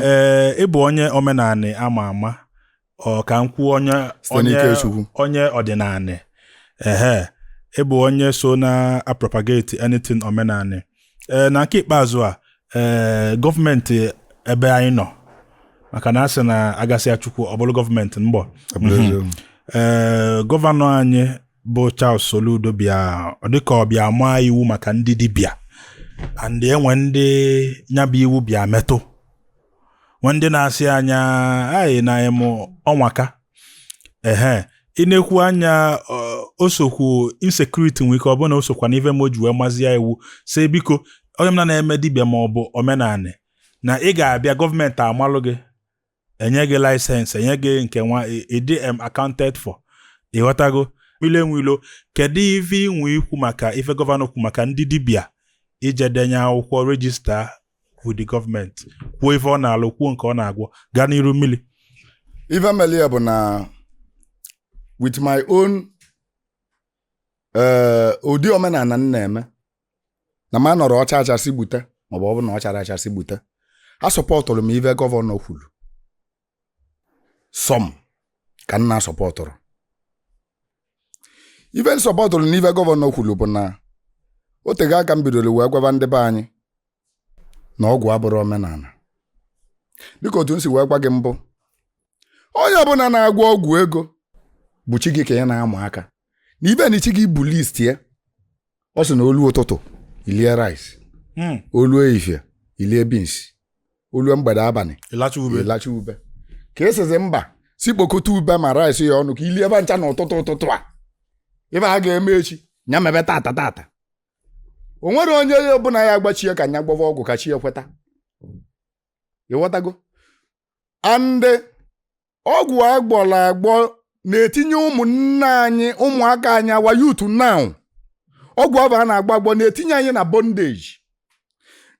ee ịbụ onye omenanị ama ama ọ ka m kwuo onye Site onye n'ike Chukwu. onye ọdịnanị ehe ịbụ onye so na-apropagate anything omenanị ee na nke ikpeazụ a ee gọọmenti ebe anyị nọ maka na a sị na a gasịa Chukwu ọ bụrụ gọọmenti mgbọ Ọ bụrụ eziokwu. ee gọvanọ anyị bụ Charles Soludo bịa ọ dịka ọ bịa maa iwu maka ndị dibịa and enwe ndị nyabụ iwu bịa metụ nwe ndị na-asị anya anyị na ịmụ ọnwaka ehe ị na-ekwu na ya o sokwu insecurity nwe ike ọ bụ na o sokwa na ife me o ji wee mazie iwu si biko onye ọbụna na-eme dibịa ma ọ bụ omenanị na ị ga-abịa gọọmenti amalụ gị e nye gị laịsensị e nye gị nke nwa ị dị em accounted for ịghọtago Mmili enwe ilo kedu ife i nwe ikwu maka ife gọvanọ kwu maka ndị dibịa ije denye akwụkwọ rejista with the gọọmenti kwuo ife ọ na-alụ kwuo nke ọ na-agwọ gaa n'iru mmiri ife meli ya bụ na with my own eh, ụdị omenala m na-eme na m anọrọ ọ chaa acha sị gbute maọbụ ọ bụ na ọ charọ acha sị gbute asọpọtụrụ m ive gọvanọ kwuru some ka m na-asọpọtụrọ ive m sọpọtụrụ na ive gọvanọ kwuru bụ na o tego aka m bidoro wee gwaba ndị be anyị na ọgwụ abụrọ omenala dịka otu m si wee gwa gị mbụ onye ọbụla na-agwọ ọgwụ ego bụ chi gị ka ị na-ama aka na ive nụ chi gị bu list ya ọ sị na o lu ụtụtụ i lie rice Mm. o lu ehihie i lie beans o lu mgbede abalị ị lacha ube ka ị sịzị mba si kpokọta ube ma rice ya ọnụ ka i lie va ncha na ụtụtụ ụtụtụ a ive a ga-eme echi ya mebe tata tata o nwere onye ọbụla ya agbachie ka nya gwọva ọgwụ ka chi ya kweta ịghọtago and ọgwụ agwọrọ agwọ na-etinye ụmụnne anyị ụmụaka anyị our youth now ọgwụ ahụ a na-agwọ agwọ na-etinye anyị na bondage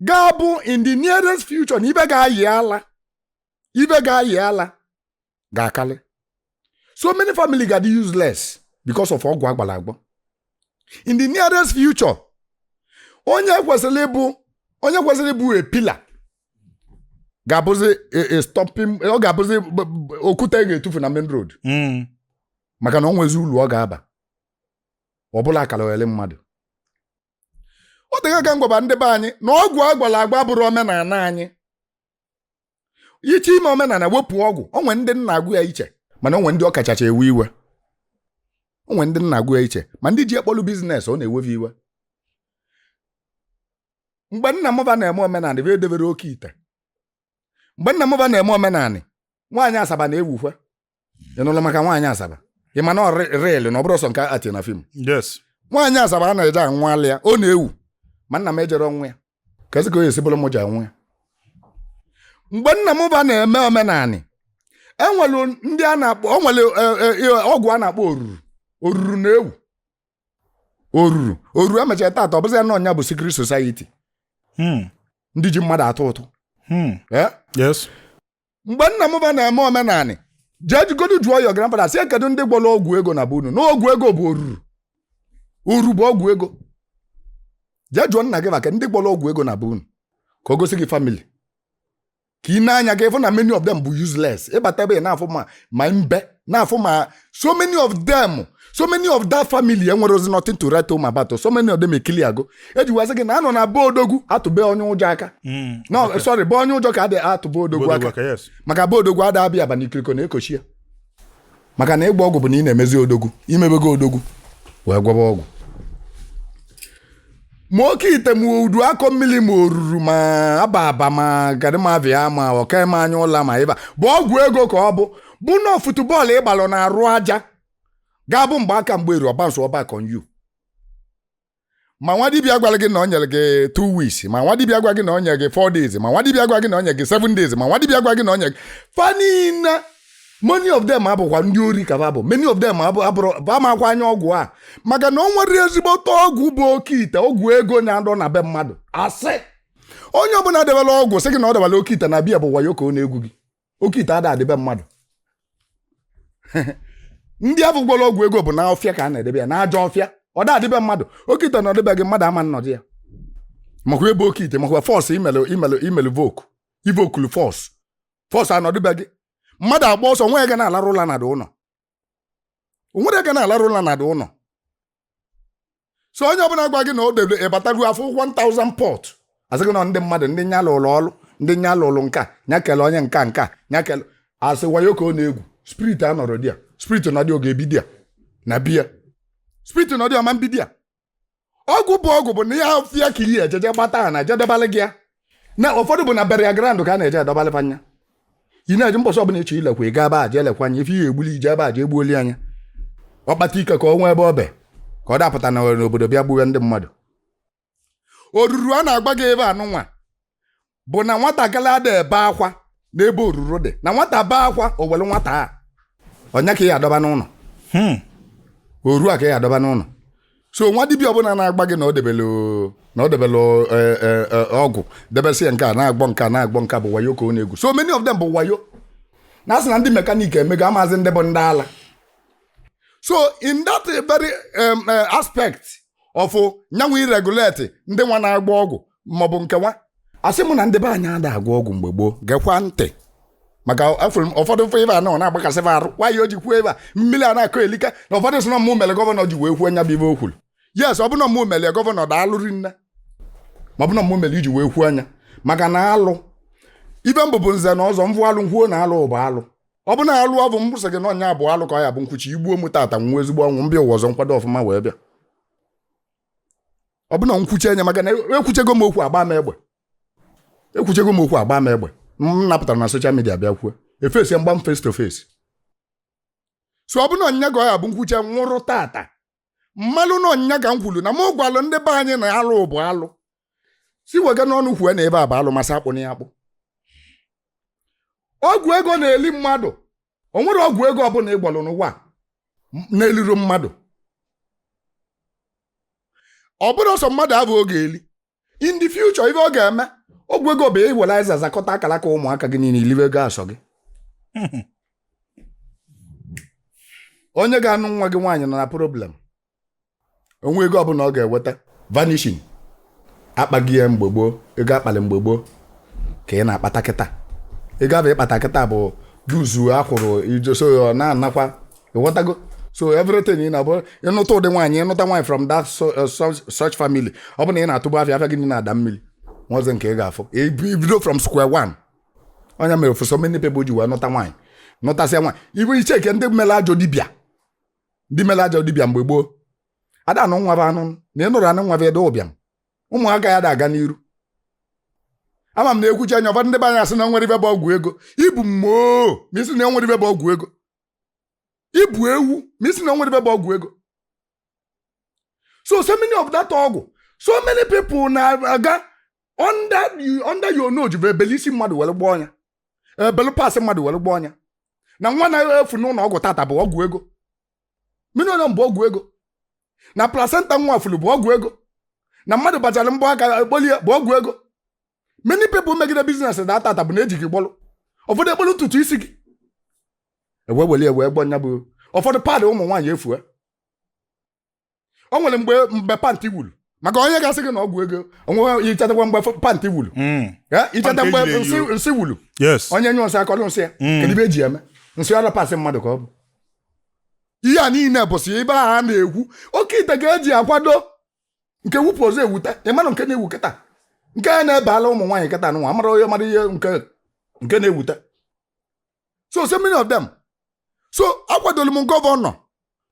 ga-abụ in the nearest future na ibe ga-ayị ala ibe ga-ayị ala ga-akarị so many family ga-adị useless because of ọgwụ agwọrọ agwọ in the nearest future onye kwesịrị ịbụ onye kwesịrị ịbụ a pillar ga-abụzi a- a stopping ọ ga-abụzi b- b- okwute a ga-etufu na main road Mm. maka na o nwezi ulu ọ ga-aba ọ bụlụ akaliogheli mmadụ o tego aka m gwaba ndị be anyị na ọgwụ agwọrọ agwọ abụrọ omenala anyị iche ime omenanị wepụ ọgwụ o nwee ndị na-agụ ya iche mana o nwee ndị ọkachacha ewe iwe o nwee ndị na-agụ ya iche ma ndị ji ya kpọlụ biznes ọ na-ewe fa iwe mgbe nna mụ ba na-eme omenanị ba edebere oke ite mgbe nna mụ ba na-eme omenanị nwaanyị asaba na-ewukwa ị nụla maka nwaanyị asaba ị ma na ọ real na ọ bụrọ sọ nke ati na fim yes nwaanyị asaba a na-eje anwụalị ya ọ na-ewu ma nna m ejero nwụ ya kezi ka ọ ya-esi bụrụ m ji anwụ ya mgbe nna m ba na-eme omenanị e nwere ndị a na-akpọ o nwere eh, eh, eh, ọgwụ a na-akpọ oruru oruru na-ewu oruru oruru emechara tata ọ bụzi ya na ọ nya bụ secret society Hmm. ndị ji mmadụ atụ ụtụ Hmm. Eh? yes mgbe nna m ba na-eme omenanị jegodu jụọ your grandfather sị kedu ndị gwọrọ ọgwụ ego na be unu na ọgwụ ego bụ oruru oru bụ ọgwụ ego jee jụọ nna gị maka ndị gwọrọ ọgwụ ego na be unu ka o gosi gị family ka ị nee anya ka ị fụ na many of them bụ useless ị bata ebe ị na-afụ ma ma mbe na-afụ ma so many of them so many of that family enwerozi nothing to write home about so many of them ekili ago e ji wee sị gị na a nọ na be odogwu atụ be onye ụjọ aka hmm, no sorry be onye ụjọ ka a dị atụ be odogwu aka maka be odogwu ada abịa aba n'ikiriko na-ekochi ya maka na ịgba ọgwụ bụ na ị na-emezi odogwu i mebego odogwu wee gwọba ọgwụ ma oke ite ma udu akọ mmili ma oruru ma aba aba ma gadịmavia ma ọkaime anya ụla ma ibobo ọgwụ ego ka ọ bụ bụ na football ị gbalụ na arụ aja ga-abụ mgbe aka mgbe eru ọ bounce-uo back on you ma nwa dibịa gwara gị na o nyere gị two weeks ma nwa dibịa gwa gị na o nyere gị four days ma nwa dibịa gwa gị na o nyere gị seven days ma nwa dibịa gwa gị na o nyere gị fa niine many of them abụkwa ndị ori ka ba bụ many of them abụrọ amakwa anya ọgwụ a maka na o nwerọ ezigbote ọgwụ bụ oke ite ọgwụ ego na-adị na be mmadụ a sị onye ọbụla debela ọgwụ sị gị na o debela oke ite na be ya bụ wayo ka ọ na-egwu gị oke ite ada adị be mmadụ ndị afụ gwọrọ ọgwụ ego bụ na ọfịa ka a na-edebe ya na ajọ ọfịa ọ da adị be mmadụ oke ite nọdụ be gị mmadụ ama anọdụ ya makwa ebe oke ite makwa force i melu i melu i melu invoke i invoke-lu force force anọdụ be gị mmadụ agba ọsọ nwa ya ga na-alarụ ụla na the ụnọ o nwerọ onye ga na-alarụ ụla na the ụnọ so onye ọbụla gwa gị na o debe ị bata ga-afụ 1000 pot ọ sị gị na ndị mmadụ ndị nya lụrụ ọrụ ndị nya lụrụ nka nya kele onye nka nka nya kele asị wayo ka ọ na-egwu spirit anọrọ there spirit nọdụ ọ ga-ebi there na be ya spirit nọdụ ọ ma ebi there ọgwụ bụ ọgwụ bụ na ọfịa ka ị ya-eje je gbata ha na-eje edebalị gị ya na ụfọdụ bụ na burial ground ka a na-eje edobalị anya ị na-eji mbọsị ọbụla ị chọ ilekwa ị gaa ebe a je elekwa anya ife ihe egbuli ije ebe a je egbuoli anya ọ kpata ike ka o nwee ebe ọ be ka ọ da apụta na n'obodo bịa gbuwe ndị mmadụ oruru a na-agba gị ebe a nụnwa bụ na nwatakịrị ada ebe akwa n'ebe oruru dị na nwata bee akwa o were nwata a ọ nya ka ya adọba n'ụlọ hmm. oru a ka ya adọba n'ụlọ so nwa dibịa ọbụla na-agwa gị na ọ debele na ọ debele e, e, e, ọgwụ debesị ya nke a na-agbọ nke a na-agbọ nke bụ wayo ka ọ na-egwu so many of them bụ wayo na asị na ndị mekaniki emego amazi ndị bụ ndị ala so in that very um, uh, aspect of nyanwụ iregulate ndị wa na-agwọ ọgwụ maọbụ nke wa asị m na ndị be anyị ada agwọ ọgwụ mgbe gboo gekwa ntị maka afụrụ m ụfọdụ mfe ife a nọ na-agbakasị m arụ nwaanyị o ji kwuo ife a mmiri a na-akọ elika na ụfọdụ sị na mụ mere gọvanọ ji wee kwuo nya bụ ife o kwuru yes ọ bụ na mụ mere gọvanọ daalụ rinne ma ọ bụ na mụ mere iji wee kwuo nya maka na alụ ife m bụ bụ nze na ọzọ m vụ alụ m kwuo na alụ bụ alụ ọ bụ na alụ ọ bụ m sị gị na ọ nya bụ alụ ka ọ ya bụ m kwuchie i gbuo m tata nwụọ ezigbo ọnwụ m bịa ụwa ọzọ m kwado ọfụma wee bịa ọ bụ na m kwuchi anya maka na ekwuchego m okwu agba m egbe ekwuchego m okwu agba m egbe m napụtara na social media bịa kwuo efesi m gbaa m face to face so ọ bụ na ọ nya ka ọ ya bụ m kwuchie nwụrụ tata m malụ na ọ nya ka m kwuru na m gwalụ ndị be anyị na alụ bụ alụ si wega n'ọnụ kwue na ife a bụ alụ ma sị akpụna ya akpụ ọgwụ ego na-eli mmadụ o nwerọ ọgwụ ego ọbụla ị gwọlụ n'ụwa na-elirọ mmadụ ọ bụrụ ọsọ mmadụ abụọ ga-eli in the future ife ọ ga-eme ọgwụ ego bụ iwere azịza zakọta akara aka ụmụaka gị niile i liwe ego a sọ gị onye ga-anụ nwa gị nwaanyị nọ na problem onwe ego ọbụla ọ ga-eweta vanishing akpaghị ya mgbe gboo ego akpalụ mgbe gboo ka ị na-akpata kịta ego abụ ị kpata kịta bụ juzu akwụrụ ijoso ya ọ na-anakwa ịghọtago so everything na-abụ ịnụta ụdị nwaanyị ịnụta nwaanyị from that uh, such family ọ bụ na ị na-atụbụ afịa afịa gị na-ada mmiri nwazi nke ị ga-afụ ibido from square one ọ nya mere for so many people ji wee nụta nwaanyị nụtasịa nwaanyị ibu iche ike ndị mere ajọ dibịa ndị mere ajọ dibịa mgbe gboo ada anụ nwa fa anụ na ị nụrụ anụ nwa bụ ede ụbịam ụmụaka ya ada aga n'iru ama m na ekwuchi anya ụfọdụ ndị be anyị asị na o nwerọ ife bụ ọgwụ ego ị bụ mmoo ma ị sị na enwerọ ife bụ ọgwụ ego ị bụ ewu ma ị sị na o nwerọ ife bụ ọgwụ ego so so many of that ọgwụ so many people na-aga under you- under your nose bụ ebele isi mmadụ were gwọọ nya ebele parts mmadụ were gwọọ nya na nwa na-efu n'ụlọ ọgwụ tata bụ ọgwụ ego minọrịọm bụ ọgwụ ego na placenta nwa furu bụ ọgwụ ego na mmadụ bachara mbọ aka ekpolie bụ ọgwụ ego many people megide biznes na atata bụ na eji gị gbọlụ ụfọdụ ekpolu ntutu isi gị ewe weli ewe gbọ nya bụ ụfọdụ paadị ụmụ nwaanyị efue o nwere mgbe mgbe pantị wuru maka onye ga-asị gị na ọgwụ ego onwe ichetakwa mgbe f- pantị wuru Mm. Eh, icheta Pantị mgbe ejiri eyi nsị- nsị wuru yes onye nyụ nsị akọrọ nsị ya Mm. kedu ibe eji eme nsị ọ bụ parts mmadụ ka ọ bụ ihe a niile bụsị ibe a na-ekwu oke ite ka eji akwado nke wupụ ọzọ ewuta ị manụ nke na-ewu kịta nke a na-ebe ala ụmụ nwaanyị kịta nwa amara onye mara ihe nke nke na-ewuta so so many of them so akwadolu m gọvanọ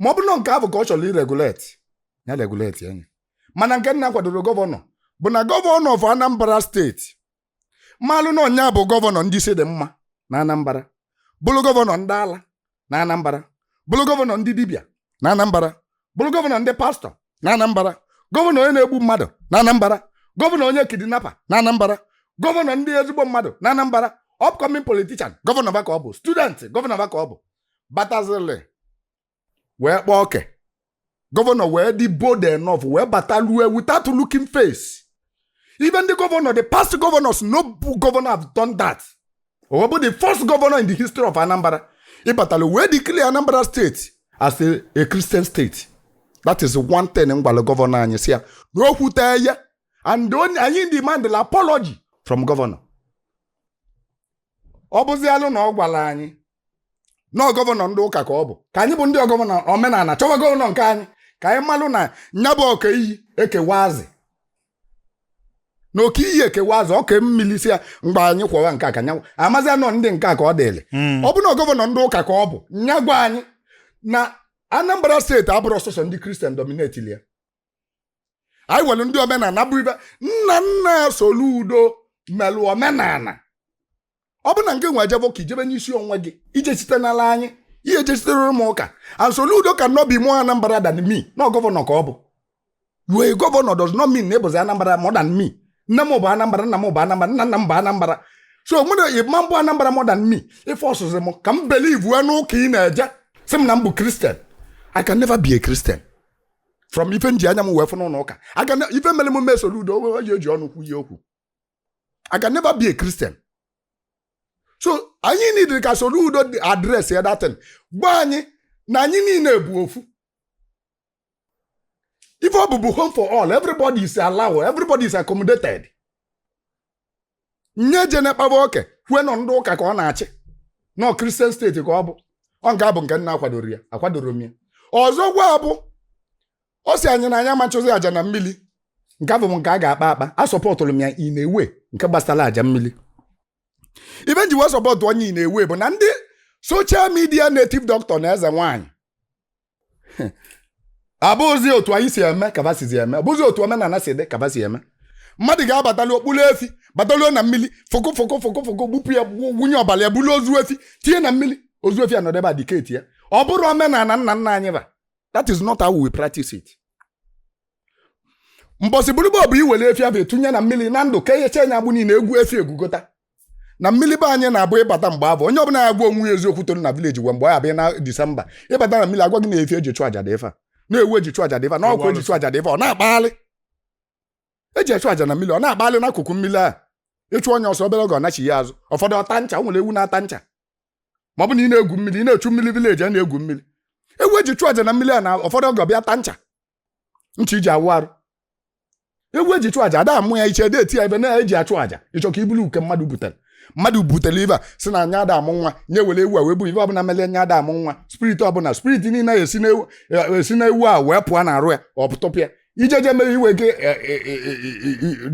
ma ọ bụ na nke ahụ ka ọ chọrọ ireguleti ya reguletia nya mana nke m na-akwadoro gọvanọ bụ na gọvanọ of Anambra steeti malụ na ọ nya bụ gọvanọ ndị isi dị mma na Anambra bụrụ gọvanọ ndị ala na Anambra bụrụ gọvanọ ndị dibịa na Anambra bụrụ gọvanọ ndị pastọ na Anambra gọvanọ onye na-egbu mmadụ na Anambra gọvanọ onye kidinapa na Anambra gọvanọ ndị ezigbo mmadụ na Anambra upcoming politician gọvanọ va ka ọ bụ student gọvanọ va ka ọ bụ batazili wee kpaa oke gọvanọ wee dị bold enough wee bata lue without looking face even the governor the past governors no bu- governor have done that ọ bụ the first governor in the history of anambra ịbatala wee declare anambra state as a, a christian state that is one thing m gwara gọvanọ anyị sị ya na o kwute ya and anyị demandlụ apology from gọvanọ ọ bụzialụ na ọ gwara anyị na gọvanọ ndị ụka ka ọ bụ ka anyị bụ ndị gọvanọ omenala chọwa gọvanọ nke anyị ka anyị malụ na nya bụ ọka iyi ekewa azị na oke iyi ekewa azị ọka mmiri si ya mgbe anyị kwọwa nke a ka anyịnwa mazia na ọ ndị nke a ka ọ dịrị Mm. ọ bụ na gọvanọ ndị ụka ka ọ bụ nya gwa anyị na anambra steeti abụrụ sọsọ ndị kristian dominetili ya anyị nwere ndị omenala bụ ibe nna nna soludo melụ omenala ọ bụ na nke nwe ejebe ụka ị jebe n'isi onwe gị ije site n'ala anyị ihe ejesitere m ụka and Soludo cannot be more Anambra than me na ọ gọvanọ ka ọ bụ you are gọvanọ does not mean na ị bụzi Anambra more than me nne m bụ Anambra nna m bụ Anambra nna nna m bụ Anambra so mụ na ị ma bụ Anambra more than me ị forcezi m ka m believe wee n'ụka ị na-eje sị m na m bụ Christian I can never be a Christian from ife m ji anya m wee fụ n'ụlọ ụka aga ife mere m mee Soludo owe oji oji ọnụ kwue okwu I can never be a Christian. so anyị nidiri ka Soludo address ya that thing gwa anyị na anyị niile bụ ofu ife ọ bụ bụ home for all everybody is allowed everybody is accommodated nya ejene kpaba oke kwue na ọ ndị ụka ka ọ na-achị na ọ kristian steeti ka ọ bụ ọ nke a bụ nke m na-akwadoro ya akwadoro m ya ọzọkwa bụ ọ sị anyị na anyị amachụzi aja na mmiri nke afụ bụ nke a ga-akpa akpa a sọpọtụrụ m ya in a way nke gbasara aja mmiri ife m ji wee sọpọtụọ nya in a way bụ na ndị soshal midia native doctor na eze nwaanyị abụzi otu anyị si eme ka fa sizi eme abụzi otu omenala si dị ka fa si eme mmadụ ga-abatali ọ kpụrụ efi bataluo na mmiri fụkụ fụkụ fụkụ fụkụ gbupụ ya gbu- gbunye ọbara ya bulu ozu efi tinye na mmiri ozu efi anọdụ ebe a diketịa ọ bụrọ omenala nna nna anyị fa that is not how we practice it mbọsị bụrụ gboo bụ iwere efi afụ etinye na mmiri na ndụ ka eyechaa nya agbụ niile egwu efi egwugota na mmiri be anyị na-abụ ịbata mgbe afụ onye ọbụla ya gwa onwe ya eziokwu toro na vileji gwa mgbe ọ ya abịa na disemba ịbata na mmiri agwa gị na efi eji chụ aja dị ife a na ewu eji chụ aja dị ife a na ọkụkọ eji chụ aja dị ife a ọ na-akpagharị eji chụ aja na mmiri ọ na-akpagharị n'akụkụ mmiri a ị chụọ nya ọsọ obere oge ọ nachie azụ ụfọdụ ọ taa ncha o nwere ewu na-ata ncha ma ọ bụ na ị na-egwu mmiri ị na-echu mmiri vileji a na-egwu mmiri ewu eji chụọ aja na mmiri a na ụfọdụ oge ọ bịa taa ncha ncha iji awụ arụ ewu eji chụọ aja ada amụ ya iche ede eti ya ife na eji achụ aja ịchọ ka ibulu nke mmadụ butere mmadụ butere ife a sị na nya ada amụ nwa nya were ewu a wee bụ ife ọbụla mere nya ada amụ nwa spirit ọbụla spirit niile esi na ewu esi na ewu a wee pụọ na arụ ya ọ pụtọpụ ya ijeje mere ife gị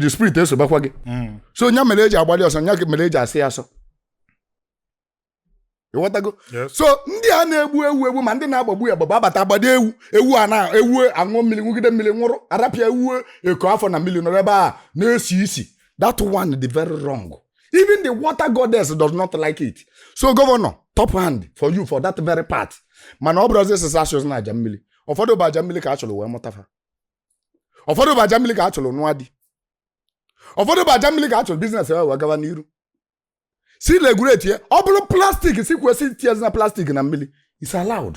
the spirit esobakwa gị so nya mere eji agbalị ọsọ nya mere eji asọ ya asọ ịghọtago so ndị a na-egbu ewu egbu ma ndị na-agbagbu ya agbagbu abata agbado ewu ewu a na ewu aṅụ mmiri ṅụgide mmiri nwụrụ arapụ ya ewu ekoo afọ na mmiri nọrọ ebe a na-esi isi that one dị very wrong even the water goddess does not like it so gọvanọ top hand for you for that very part mana ọ bụrụzi sị sị achụzina aja mmiri ụfọdụ bụ aja mmiri ka a chụrụ wee mụta fa ụfọdụ bụ aja mmiri ka a chụrụ nụọ di ụfọdụ bụ aja mmiri ka a chụrụ biznes wee gawa n'iru sị regulate ya ọ bụrụ plastik sịkwa sị etinyezina plastik na mmiri is allowed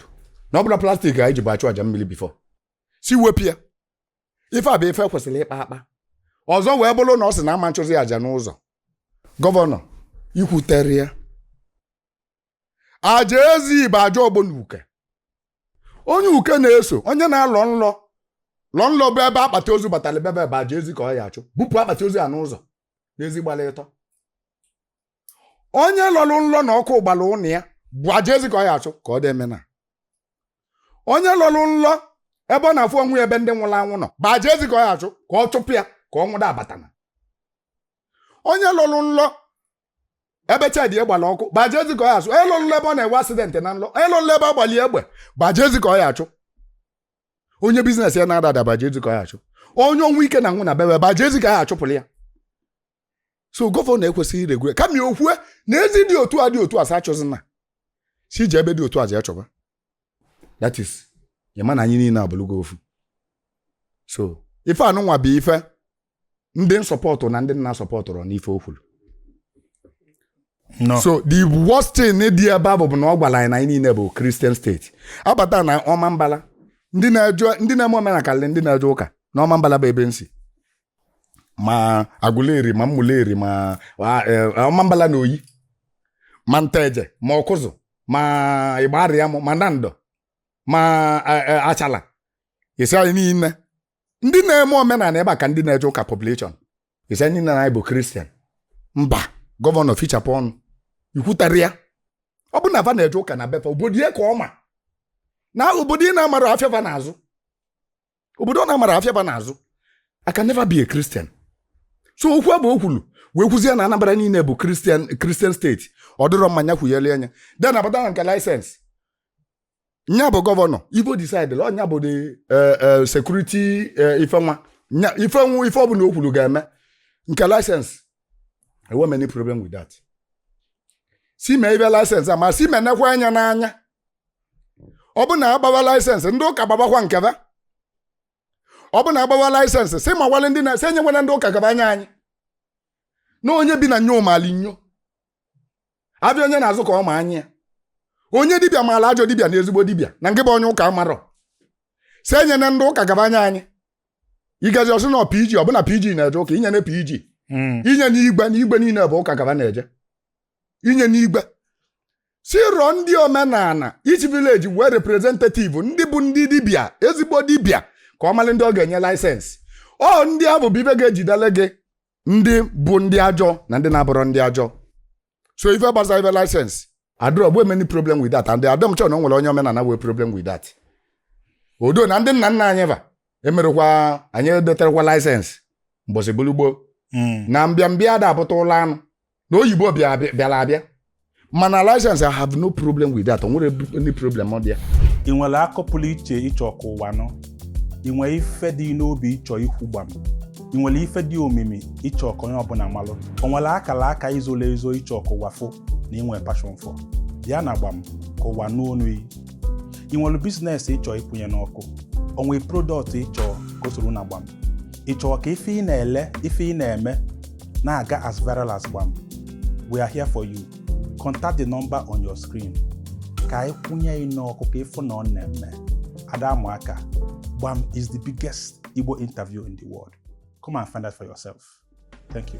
na ọ bụrọ plastik ka anyị jibu achụ aja mmiri bifo sị wepụ ya ife a bụ ife kwesịrị ịkpa akpa ọzọ wee bụrụ na ọ sị na ama nchụzi aja n'ụzọ gọvanọ i kwuterọ ya aja ezi bụ aja ọgbọ na uke onye uke na-eso onye na-alọ nlọ lọ nlọ bụ ebe akpati ozu batara be ya bụ aja ezi ka ọ ya achụ bupụ akpati ozu ya n'ụzọ n'ezi gbara ịtọ onye lọrụ nlọ na ọkụ gbara ụnọ ya bụ aja ezi ka ọ ya achụ ka ọ dị emena onye lọrụ nlọ ebe ọ na-afụ onwe ya ebe ndị nwụrụ anwụ nọ bụ aja ezi ka ọ ya achụ ka ọ chụpụ ya ka ọnwụ da abatana onye lọrụ nlọ ebe shedi gbara ọkụ gbaje ezi ka ọ ya achụ onye lọrọ nlọ ebe ọ na-enwe asidentị na nlọ onye lọrọ nlọ ebe a gbali ya egbe gbaje ezi ka ọ ya achụ onye biznes ya na-ada ada gbaje ezi ka ọ ya achụ onye ọnwụ ike na-anwụ na be ba gbaje ezi ka ya achụpụrụ ya so gọvanọ ekwesịghị iregure kama ya okwue na ezi dị otu a dị otu a sị achụzina sị je ebe dị otu a je achụba that is ya ma na anyị niile abụlụgo ofu so ife anụnwa bụ ife ndị na-asọpọtụ na ndị na-asọpọtụrọ n'ife o kwuru No. so the worst thing dị ebe a bụ bụ na ọ gwara anyị na anyị niile bụ kristian steeti a bata na Ọmambala ndị na-eje ndị na-eme omenala karịrị ndị na-eje ụka na Ọmambala bụ ebe m si ma Aguleri ma Umuleri ma a- e, Ọmambala na Oyi ma Nteje ma Ọkụzụ ma Ịgbarịam ma Nando ma e, e, Achala isi anyị niile ndị na-eme omenala ebe a ka ndị na-eje ụka population ị sị ndị na anyị bụ kristian mba gọvanọ fichapụ ọnụ i kwutarọ ya ọ bụ na va na-eje ụka na be fa obodo ya ka ọ ma na obodo ị na-amarọ afịa ba na-azụ obodo ọ na-amarọ afịa ba na-azụ I can never be a Christian so okwu abụ o kwuru wee kwuzie na Anambra niile bụ kristian kristian steeti ọ dịrọ mma nya kwunyere anya then a bata na nke laịsensị nya bụ gọvanọ ibe ọ disaidịla ọ nya bụ the security ife nwa nya ifenwu ife ọbụla o kwuru ga-eme nke laịsensị enwerọ m any problem with that sị mee ibe laịsensị a ma si menekwa anya n'anya ọ bụ na a gbawa laịsensị ndị ụka gbabakwa nke ba ọ bụ na a gbawa laịsensị sị makwalị ndị na-esi enyewena ndị ụka ka ba nye anyị na onye bi na nyo mali nyo afịa onye na-azụ ka ọ ma anya onye dibịa maalụ ajọ dibịa na ezigbo dibịa na nke bụ onye ụka amarọ sị enyena ndị ụka ka ba nye anyị igaji ọsị na pg ọ bụ na pg na-eje ụka enyena pg hmm. enyena igwe na igwe niile bụ ụka ka ba na-eje enyena igwe sị rọọ ndị omenala each village nwee representative ndị bụ ndị dibịa ezigbo dibịa ka ọ malị ndị ọ ga-enye laịsensị ọ ndị abụ bụ ibe ga-ejidele gị ndị bụ ndị ajọ na ndị na-abụrọ ndị ajọ so ife gbasa ife laịsensị adịrọ abụ m any problem with that and adịrọ m sure na o nwere onye omenala nwee problem with that odo na ndị nna nna anyị va emerọkwa nya edeterọkwa laịsensị mbọsị bụrụ gboo Mm. na mbịambịa ada apụta ụlọ anụ na oyibo bịa- bịa- bịara abịa mana license i have no problem with that o nwerọ any problem ọ dị ya ị nwere akọ pụrụ iche ị chọ ka ụwa nụ ị nwere ife dị n'obi ị chọ ikwu gbam ị nwere ife dị omimi ị chọ ka onye ọbụla malụ o nwere akara aka i zolo ezo ị chọ ka ụwa fụ na ị nwe passion for bịa na gbam ka ụwa nụ onu gị ị nwere bizinesi ị chọ ịkwụnye n'ọkụ o nwere prodọkt ị chọ ka o soro na gbam ị chọrọ ka ife ị na-ele ife ị na-eme na-aga as viral as gbam we are here for you contact the number on your screen ka anyị kwụnye gị n'ọkụ ka ị fụ na ọ na-eme ada amụ aka gbam is the biggest igbo interview in the world come and find out for yourself thank you